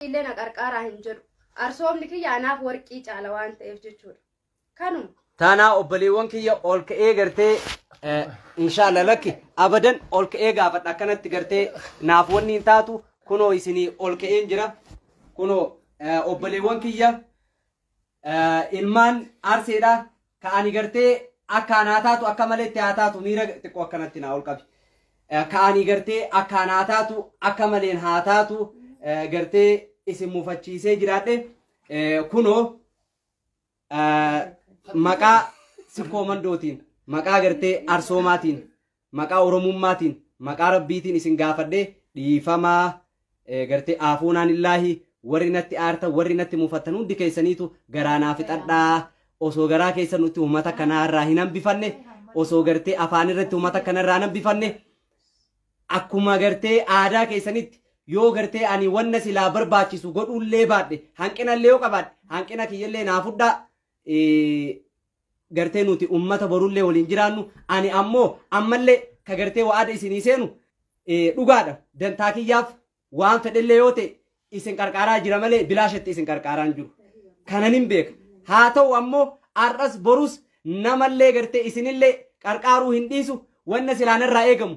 illee na qarqaaraa hin jedhu. Arsoomni kiyya anaaf warqii caala waan ta'eef jechuudha. Kanuma. Taanaa obboleewwan kiyya ol ka'ee gartee inshaalla lakki abadan ol ka'ee gaafadha akkanatti gartee naaf wanni hin taatu kunoo isinii ol ka'een jira. Kunoo obboleewwan kiyya ilmaan arseedha ka ani gartee akka anaa taatu akka malee itti haa taatu miira xiqqoo akkanatti naa ol qabi ka ani gartee akka anaa taatu akka maleen haa taatu gartee isin mufachiisee jiraadhe kunoo maqaa sikkoo mandootiin maqaa gartee arsoomaatiin maqaa oromummaatiin maqaa rabbiitiin isin gaafadhe dhiifamaa eh, gartee aafuunaan illaahi warri natti aartan warri natti mufattan hundi keessaniitu garaa naa fixadhaa osoo garaa keessa nutti uummata kanaa irraa hin hambifanne osoo gartee afaan irratti uummata kana irraa hin hambifanne akkuma gartee aadaa keessanitti yoo gartee ani wanna silaa barbaachisu godhullee baadhe hanqinallee yoo qabaadhe hanqina kiyyallee naa fudhaa eh, gartee nuti ummata borullee waliin jiraannu ani ammoo ammallee ka gartee wa'ada isinii seenu eh, dhugaadha dantaa kiyyaaf waan fedhellee yoo ta'e isin qarqaaraa jira malee bilaashatti isin qarqaaraa hin jiru kanan hin beeka haa ta'u ammoo har'as borus namallee gartee isinillee qarqaaruu hin dhiisu wanna silaanarraa eegamu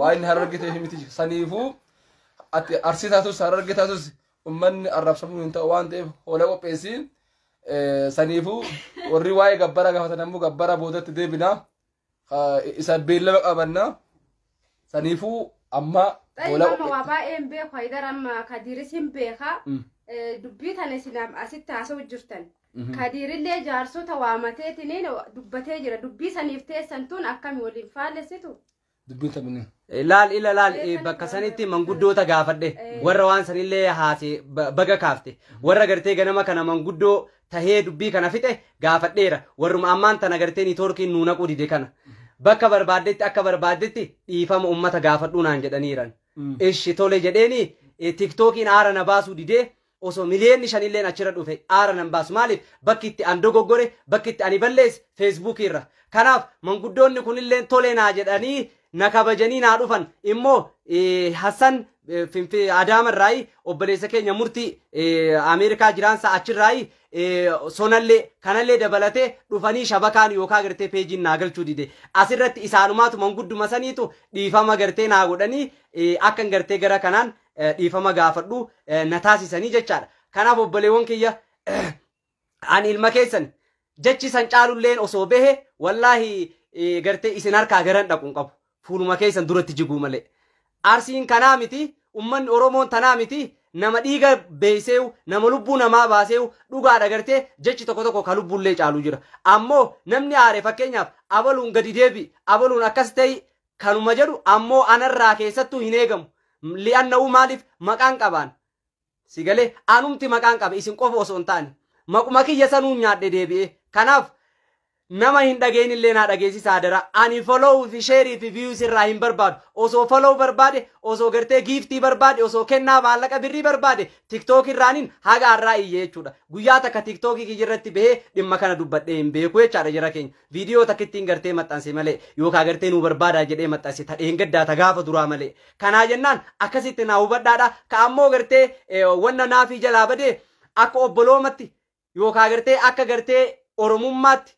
waa inni hararge ta'eef miti saniifuu ati arsii taatus hararge taatus ummanni arrabsamuu hin ta'u waan ta'eef hoola qopheessi Eh, saniifuu warri waa'ee gabbara gaafatan ammoo gabbara boodatti deebina Ah, isa beellama qabanna saniifuu amma Xayi hoola mama waa baay'ee hin beeku haydar amma kadiiris hin beeka Mm. Eh, dubbii tana isin asitti haasa'u jirtan Kadiirillee jaarsota waamateetiniin dubbatee jira. Dubbii saniif teessan tun akkami waliin faallessitu? Dubbiin taphni. Laal ila laal eh, bakka sanitti manguddoota gaafadhe warra waan sanillee haase ba- baga kaafte warra gartee ganama kana manguddoo tahee dubbii kana fixe gaafadheera warruma ammaan tana gartee niitoorkiin nuu naquu dide kana bakka barbaaddetti akka barbaaddetti dhiifama ummata gaafadhuu naan jedhaniiran ishi tole jedheeni eh, tiktookiin aara na baasuu didee Osoo miliyeenni shanilleen achirra dhufe aara nan baasu. Maaliif? Bakki itti an dogoggore, bakki itti ani balleesse Feesbuukii irra. Kanaaf manguddoonni kunilleen tole naa jedhanii na kabajanii naa dhufan. Immoo Hassan Adaama irraayi obboleessa keenya murtii Ameerikaa jiraansa achirraayi sonallee kanallee dabalatee dhufanii shabakaan yookaan gartee peejiin naa galchuu dide. Asirratti isaanumaatu mangudduma saniitu dhiifama gartee naa godhanii akkan gartee gara kanaan eh, dhiifama gaafadhu eh, na taasisanii jechaadha. Kanaaf obboleewwan kiyya eh, ani ilma keessan jechi san caalulleen osoo behe wallaahi eh, gartee isin harkaa garan dhaqu hin qabu. Fuuluma keessan duratti jiguu malee. Arsiin kanaa miti, ummanni Oromoon tanaa miti, nama dhiiga beeyseewu, nama lubbuu namaa baaseewu, dhugaadha gartee jechi tokko tokko ka lubbuullee caalu jira. Ammoo namni aare fakkeenyaaf abaluun gadi deebi, abaluun akkas ta'e kanuma jedhu ammoo anarraa keessattuu hin eegamu li'annahu maaliif maqaan qabaan si galee anumti maqaan qabe isin qofa osoo hin taane maquma kiyya sanuun nyaadhe deebi'ee kanaaf nama hin dhageenye illee naa dhageessisa adaraa ani follow fi share fi views irraa hin barbaadu osoo follow barbaade osoo gartee giiftii barbaade osoo kennaa maallaqa birrii barbaade tiktok irraanin haga har'aa iyye jechuudha guyyaa takka tiktok kiyya irratti bahee dhimma kana dubbadhee hin beeku jechaadha jara keenya Viidiyoo takkittiin gartee maxxanse malee yookaan gartee nuu barbaadaa jedhee maxxanse ta dheengaddaa ta gaafa duraa malee. Kanaa jennaan akkasitti naa hubadhaadha. Ka ammoo gartee eh, wanna naafii jalaa badee akka obboloomatti yookaan gartee akka gartee oromummaatti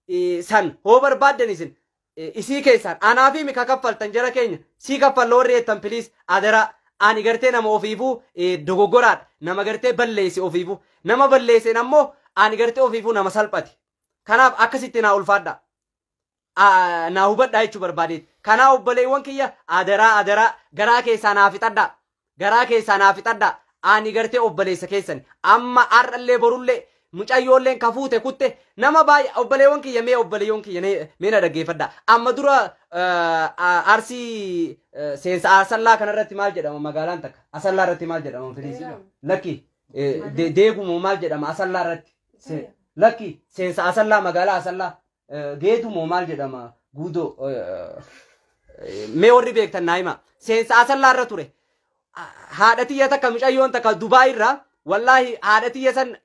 eh, san hoo barbaaddan isin eh, isii keessaan anaafii mika kaffaltan jara keenya sii kaffalla warri jettan piliis adaraa. Ani gartee nama ofiifuu eh, dogoggoraadha. Nama gartee balleesse ofiifuu. Nama balleesseen ammoo ani gartee ofiifuu nama salphate. Kanaaf akkasitti naa ulfaadha. Aa, naa hubadhaa jechuu barbaadeeti. Kanaa obboleewwan kiyya adaraa adaraa garaa keessaa naa fixadhaa. Garaa keessaa naa fixadhaa. Ani gartee obboleessa keessani. Amma har'allee borullee mucayyoolleen ka fuute kutte nama baay'ee obboleewwan kiyya mee obboleewwan kiyya ne- mee na dhaggeeffadhaa. Amma dura eh, a- arsii eh, seensa asallaa kanarratti maal jedhama magaalaan takka asallaa irratti maal jedhama filiisii Beellaam. lakki deegumoo maal jedhama asallaa irratti lakki seensa asallaa magaalaa asallaa geedumoo maal jedhama guudoo mee warri beektan naa hima seensa asallaa irra ture haadha tiyya takka micayyoon takka dubaa irraa wallaahi haadha tiyya san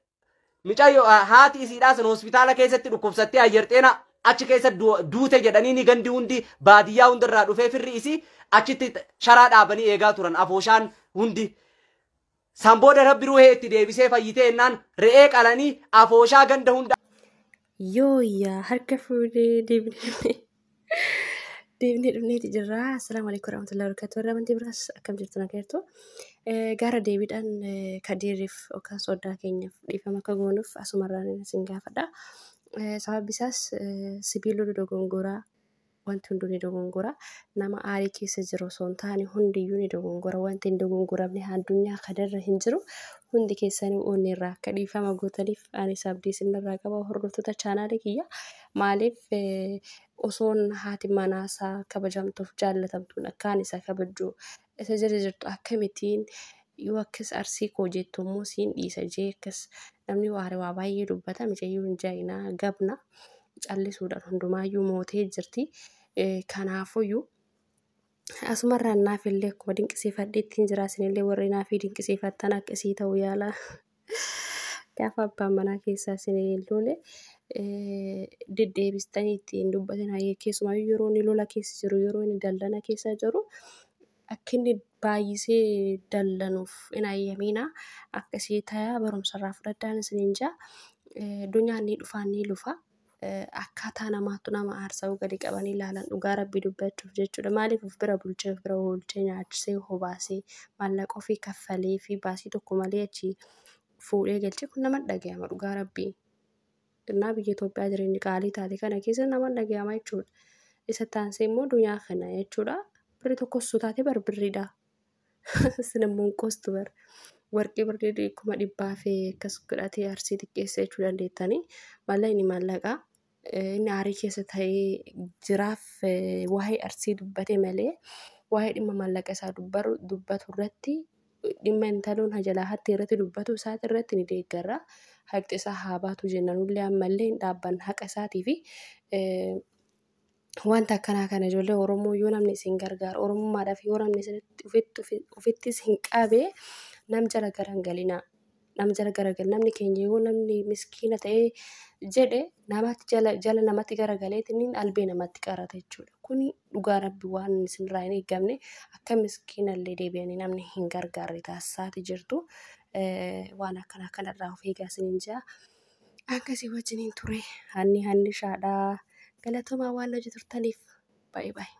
micayyo haati isiidhaa san hospitaala keessatti dhukkubsattee ayyarxeena achi keessa duute jedhanii ni gandi hundi baadiyyaa hundarraa dhufee firri isii achitti sharaa dhaabanii eegaa turan afooshaan hundi San booda Rabbi ruuhee itti deebisee fayyitee ennaan re'ee qalanii afooshaa ganda hunda Yooyyaa harka fuudhee deebinee deebinee dhufneeti jirra. Assalaamu alaikum warahmatullahi wabarakatuh. Warra amantii biraas akkam jirtu nagaa jirtu. Eh, Gara deebiidhaan eh, kadiiriif yookaan soddaa keenyaaf dhiifama akka goonuuf asumarraan isin gaafadha. Eh, Sababni isaas eh, sibiilota dogongoraa Wanti hunduu ni dogongora. Nama aarii keessa jiru osoo hin taane hundiyyuu ni dogongora. Wanti hin dogongoramne addunyaa kanarra hin jiru. Hundi keessanii onneerraa akka dhiifama gootaniif anis abdii isinirraa qaba hordoftoota chaanaalii kiyya. Maaliif osoon haati manaasaa kabajamtuuf jaallatamtuun akkaan isa kabajju Isa jala jirtu akkamitiin yoo akkas arsii koo jettu immoo siin dhiisa jee akkas namni waare waa baay'ee dubbata micayyuu hin jaayinaa gabna callisuudhaan hundumaayyuu mootee jirti kanaafuyyuu asumarraan naaf illee akkuma dinqisiifadheettiin jiraa sinillee warri naafii dinqisiifattan akka isii ta'u yaalaa. Gaafa abbaan manaa keessaa isin hin loole deddeebistanii ittiin dubbatan keessumaa yeroo inni lola keessa jiru yeroo inni dallana keessa jiru akka inni baay'isee dallanuuf hin hayyamiina akkasii ta'a barumsarraa fudhadhaan isin hin jaa dunyaan ni dhufaa ni lufa Akkaataa namaattu nama aarsa yoo gadi qabanii ilaalan dhugaa rabbii dubbachuuf jechuudha maaliif of bira bulchee of bira oolchee nyaachisee hobaasee maallaqa ofii kaffalee fi baasii tokko malee achi fuudhee galchee kun nama dhagayama dhugaa rabbii innaa biyya Itoophiyaa jireenyi qaalii taate kana keessa nama dhagayama jechuudha isa taansee immoo dunyaa kana jechuudha birri tokkos taate bar birriidha Sinammoon qoostu bar warqii birrii kuma dhibbaa fi akkas godhatee arsii xiqqeessa jechuu dandeettanii maallaqni maallaqaa inni aarii keessa ta'ee jiraaf waa'ee arsii dubbate malee waa'ee dhimma maallaqa isaa dubbatu irratti dhimma intaloon hajalaa hattee irratti dubbatu isaati irratti ni deeggarra haqxi isaa haa baatu jennanullee ammallee hin dhaabban haqa isaatii fi Wanta akkanaa kana ijoollee Oromoo yoo namni isin gargaaru Oromummaadhaaf yoo namni isinitti ofitti ofi- ofittis hin qabe nam jala gara hin galinaa. Nam jala gara gal namni keenya yoo namni miskiina ta'ee jedhe namatti jala jala namatti gara galeetiin albee namatti qarata jechuudha. Kuni dhugaa rabbi waan isinirraa hin eegamne akka miskiina illee deebi'anii namni hin gargaarre taasisaati jirtu. Eh, Waan akkana kanarraa of eegaa isiniin jaa. Akka si wajjiniin ture hanni hannishaadha. Galatomaa waan hojii turtaniif baay'ee baay'ee.